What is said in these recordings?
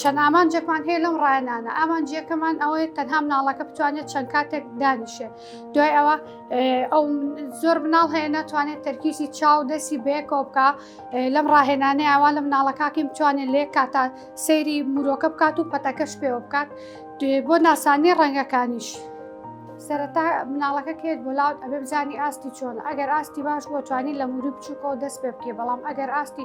چەند ئامانجێکمان هەیە لەم ڕایانانە ئامانجیەکەمان ئەوەیە تەنها مناڵەکە بتوانێت چەند کاتێک دانیشێ دوای ئەوە ئەو زۆر مناڵ هەیە ناتوانێت تەرکیسی چاو دەستی بەیەکەوە بکە لەم ڕاهێنانەیە ئەوان لە مناڵەکەکی بتوانێت لێ کاتە سەیری مرۆکە بکات و پەتەکەش پێوە بکات بۆ ناسانی ڕەنگەکانیش. سەرەتا مناڵەکە کێت بۆ لاوت ئەبێ بزانانی ئاستی چۆن ئەگەر ئاستی باش بۆ توانی لە موری بچووکەوە دەست پێ بکێ بەڵام ئەگەر ئاستی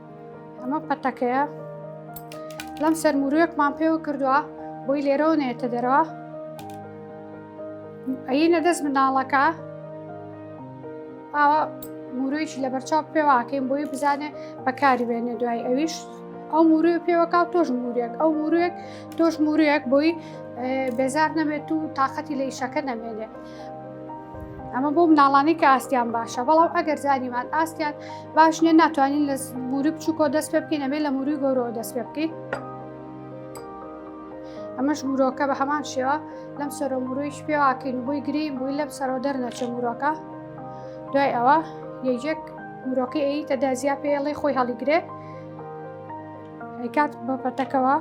ئەمە پەتەکەیە لەم سەرموروێکمان پێوە کردووە بۆی لێرەوە نێتە دەرەوە ئەینە دەست مناڵەکە ئاوا مورویشی لە بەرچاو پێواکەین بۆی بزانێ بەکاری بێنە دوای ئەویش ئەو موروی پێوەکاو تۆش موریەک ئەو موروێک تۆش مورویەک بۆی بێزار نەبێت و تااقەتی لە ئیشەکە نەمێنێت ئەمە بۆ مناڵانی کە ئاستیان باشە بەڵام ئەگەر زانیمان ئاستیان باش نیە ناتوانین لە موری بچووکۆ دەست پێ بکەین ئەمێ لە موری گەورەوە دەست پێ بکەین ئەمەش مورۆکە بە هەمان شێوە لەم سەرۆ مرویش پێواکەین بۆی گرین بووی لەم سەرۆ دەرنەچە مورۆکە دوای ئەوە یەکێک مرۆکی ئەی تەدا زیا پێڵی خۆی هەڵیگرێ ئەیکات بە پەتەکەوە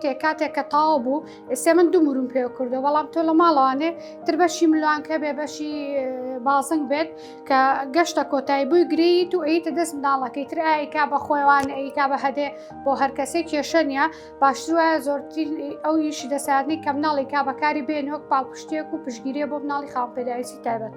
تێ کاتێک کە تاو بوو ئێسێ من دوو مرون پێ کردو بەڵام تۆ لە ماڵەوانێ تر بەشی ملوانکە بێ بەشی بازنگ بێت کە گەشتە کۆتایی بووی گریت و ئەیتە دەست منداڵەکەی تر ئایکا بە خۆیوان ئەیکا بە هەدێ بۆ هەر کەسێک کێشە نیە باشتر وایە زۆرتر ئەو یشی دەساردنی کە مناڵی کا بەکاری بێنۆک پاڵپشتێک و پشگیرێ بۆ مناڵی خاپێداویستی تایبەت.